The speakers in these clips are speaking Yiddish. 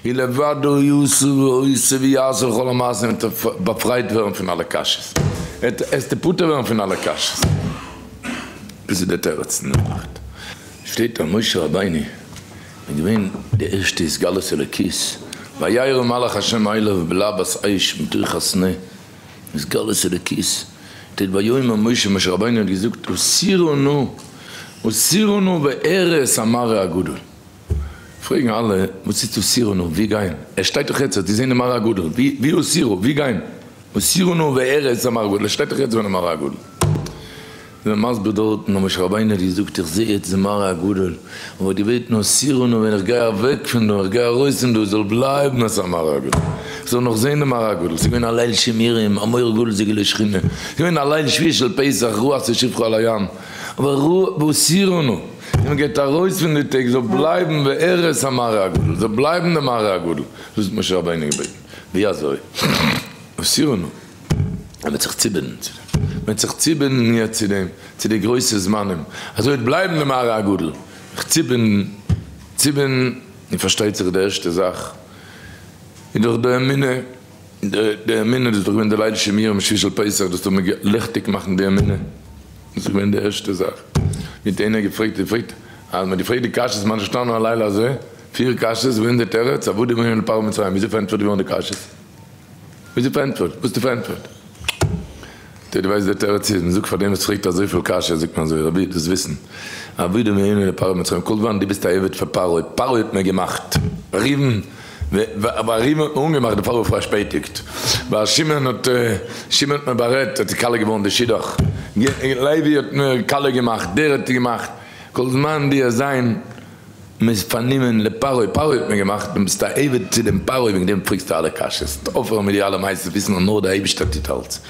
און לבדו יעשו ועושה ויעשו לכל המעשים עטס באפרייט ווערן פון אלע קשיות עסטע פטור ווערן פון אלע קשיות דאס איז די תירוץ אין די נאכט שטייט אז משה רבינו איז געווען די ערשטע התגלות אלוקית וירא מלאך השם עליו בלהבות אש מתוך הסנה התגלות אלוקית שטייט ויאמר משה משה רבינו האט געזאגט הסירו נא הסירו נא ואראה את המראה הגדול. פרעגן אלע וואס איז אוסירנו ווי גיין עס שטייט דאך יעצט די זענען מראה גדול ווי אוסירו ווי גיין אוסירנו וארץ המראה גדול עס שטייט דאך יעצט זענען מראה גדול זענען מסביר דארטן האט משה רבינו געזאגט איך זעה יעצט די מראה גדול אבער געבעטן אוסירנו ווען איך גיי אוועק פון דא איך גיי ארויס פון דא זאל בלייבן אז ס'א מראה גדול איך זאל נאך זען די מראה גדול ס'געווען א ליל שימורים א מראה גדול זיגעלע שכינה ס'געווען א ליל שביעי של פסח רוח צו שפכו על הים אבער רוח ואוסירנו און מען גייט ארויס פון די טעג זאל בלייבן בארץ המראה הגדול, זאל בלייבן די מראה הגדול, דאס האט משה רבינו געבעטן, ווי אזוי? וסירנו, ער וועט זיך צובינדן צו דעם, מען וועט זיך צובינדן יעצט צו דעם, צו די גרויסע זמנים, אזוי וועט בלייבן די מראה הגדול, זיך צובינדן, צובינדן, און פארשטייט זיך די ערשטע זאך איז דאך די אמונה. די אמונה דאס איז דאך געווען די ליל שימור און משי של פסח דאס טאר מען ליכטיג מאכן די אמונה דאס איז געווען די ערשטע זאך מיט איינער האט געפרעגט און געפרעגט אז מען האט געפרעגט די קשיות מה נשתנה הלילה הזה פיר קשיות וואס איז די תירוץ עבדים היינו לפרעה מצרים וויאזוי פארענטפערט געווארן די קשיות וויאזוי פארענטפערט וואס האסטו פארענטפערט. טא דו ווייסט דער תירוץ איז, מען זאגט פאר דעם וואס פרעגט אזויפיל קשיות זאגט מען אזוי, רבי דאס וויסן עבדים נאמנים לפרעה במצרים כל זמן דו ביסט א עבד פאר פרעה, פרעה האט מיר געמאכט ריבן ווייל ריבן האט מיר אנגעמאכט די פרעה האט פארשפעטיגט ווייל שמעון האט שמעון האט מיר בארעדט האט כלה געווארן די שידוך לוי האט מיר כלה געמאכט דער האט געמאכט כל זמן דו האסט זיין מען איז פארנומען לפרעה, פרעה האט מיר געמאכט, און ביסט א עבד צו דעם פרעה, וועגן דעם פרעגסטו אלע קשיות, אויפהערן מיט די אלע מעשיות, וויסן אז נאר דער אייבערשטער טוט אלץ,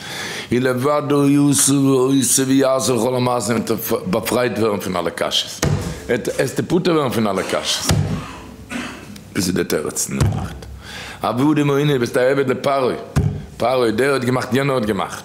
היא לבדו יעשה ועושה ויעשה לכל המעשים, וועט ער באפרייט ווערן פון אלע קשיות, עס תפטר ווערן פון אלע קשיות, דאס איז דער תירוץ, נאכט, עבדים עוני, ביסט א עבד לפרעה, פרעה דער האט געמאכט יענער האט געמאכט.